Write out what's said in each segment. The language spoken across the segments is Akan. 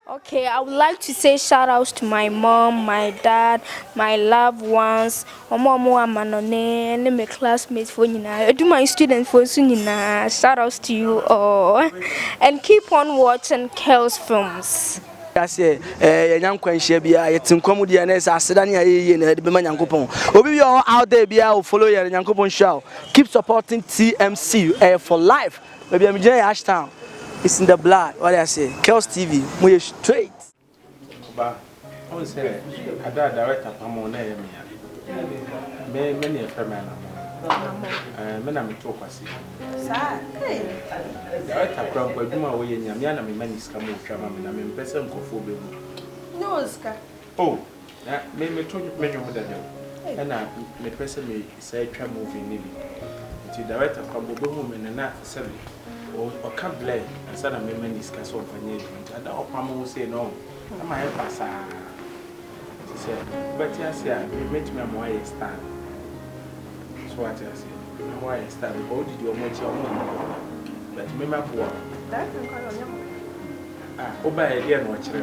Ok I would like to say shout out to my mom, my dad, my loved ones, ɔmo a ɔmo wɔ amanɔne ne me classmate foɔ nyinaa, Adwuman student foɔ nso nyinaa shout out to you all and keep on watching Kells films. Wiase a yɛanya nkwanhyia biara, yɛte nkwa mu deɛ na ɛsɛ aseda ne ayɛ yie na yɛde bɛma Nyankopɔn. Obi biara a ɔwɔ out there biara o follow yɛn, Nyankopɔn nhyira wo. Keep supporting TMC, ɛyɛ for life. Baabi a megyina yɛ Ashtown, it's in the blood, wate aseɛ, Kells TV, moyɛ straight. Ba, wohu sɛ ada a director pam wo na ɛyɛ me a, me me na yɛfrɛ me Anamɔn. Anamɔn? Me na metoo Kwasi no. Saa? Hey! Director kora mpo adwuma a woyɛ nya, me ara na mema no sika ma ɔtwa ma me na mempɛ sɛ nkurɔfoɔ bɛhu. Nyɛ wɔ sika. Oh na me me to me nwom dada o ɛna me pɛ sɛ me sɛ twa movie ne bi nti director kora bɔ bɛ hu me no na sɛ bi ɔka blɛ ansa na me ma ni sika sɛ ɔmfa nyɛ adwuma nti ada ɔpa mo ho sei na ɔho ɛma yɛ fa saa nti sɛ bɛ te ase a me me tumi ama wayɛ star so wa te ase na wayɛ star bi kɔ wodidi ɔmo akyi ɔmo ɔmo bɛ tumi ma boa ah ɔba yɛ deɛ na ɔkyerɛ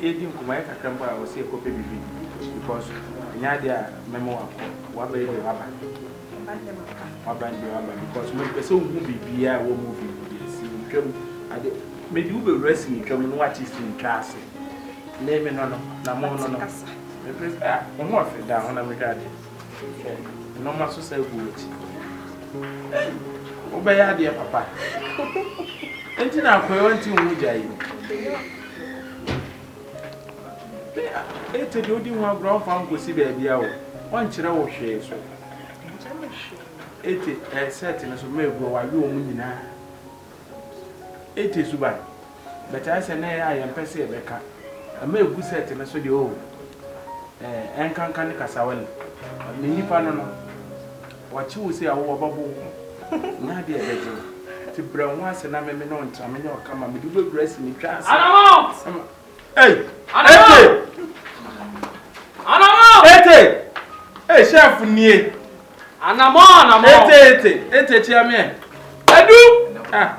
Yɛredi nkɔmmɔ ayɛ kakra mpo a ɔse ɛkɔ pɛ biribi because ɛnyɛ adeɛ a mɛma wakɔ waba yi deɛ waba waba yi deɛ waba because mempɛ sɛ wohu biribiaa ɛwɔ movie mu deɛ sini twa mu ade mede wo bɛwura sini twa mu no wate sini twa ase ne me no no na mo no no mempɛ sɛ ah wo ho ɔfɛ da ho na mehwɛ adeɛ Hwɛ nnoɔma so sɛ agu w'akyi. Ei! Wobɛyɛ adeɛ papa. Enti na akoe wanti wo ho gya yi. Ete deɛ wodi ho agorɔ ɔmfa wo nkɔsi baabi a o. Ɔnkyerɛ wo hwee so. Ete ɛɛ sɛɛte no so mma aguo wawe wɔn nyinaa. Ete suban. But ayɛ sɛ na ɛyɛ a yɛmpɛ sɛ yɛbɛka. Ɛma ɛgu set no so deɛ oo, eh, ɛnkanka ne Kasawali. But me nnipa no no, wɔkye wo sei a wo wɔbɛbo wo ho. Nya adeɛ a ɛbɛgye wo. Nti brɛ wo ho ase na me me ne wo ntena, menyɛ wo kama. Mede wo bɛwura asi me twa ase. Adamo! Ei! Ete! Adamo! Ete! Ei, chef nie! Adamo, Adamo! Ete, Ete, Ete, kyea meɛ. Adu! Ah!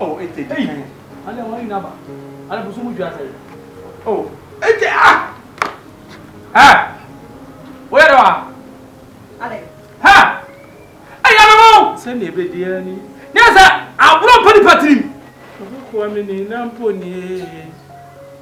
Oh, ete di kan. Ale wɔn nyinaa ba. Ale busu mu dwa sɛ. Oh, ete ah. Ɛ. Woyɛ dɛ wa. Ale. Hɛ. Ɛyɛ no mo. Sɛ ne ebe di ani. Ne sɛ aburo mpa nipa tirim. Obi koa mi ni na mpo nie.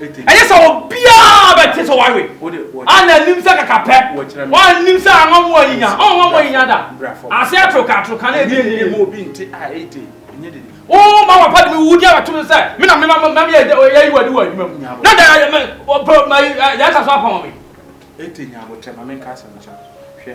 ɛnyɛ sɛ obiara bɛte sɛ wawe a na anim sɛ kakapɛ wɔanim sɛ ama mu ayinya ɔnwa mu ayinya da ase atoroka atoroka na ebi enyini mu obi nte a ete o ma wapa de mi wudi abato mi sɛ mi na mi ma ma mi yɛ yɛ yi wadi wɔ adwuma mu na da yɛ mɛ ɔpɛ ma yɛ ata so apɔn mi. ete nya abotire ma mi nka asɛm kyerɛ hwɛ.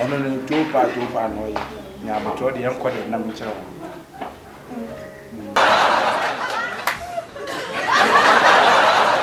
Ɔno no dwoo paa dwoo paa na ɔyɛ na abotɔ deɛ ɛnkɔ deɛ nam nkyerɛ ho.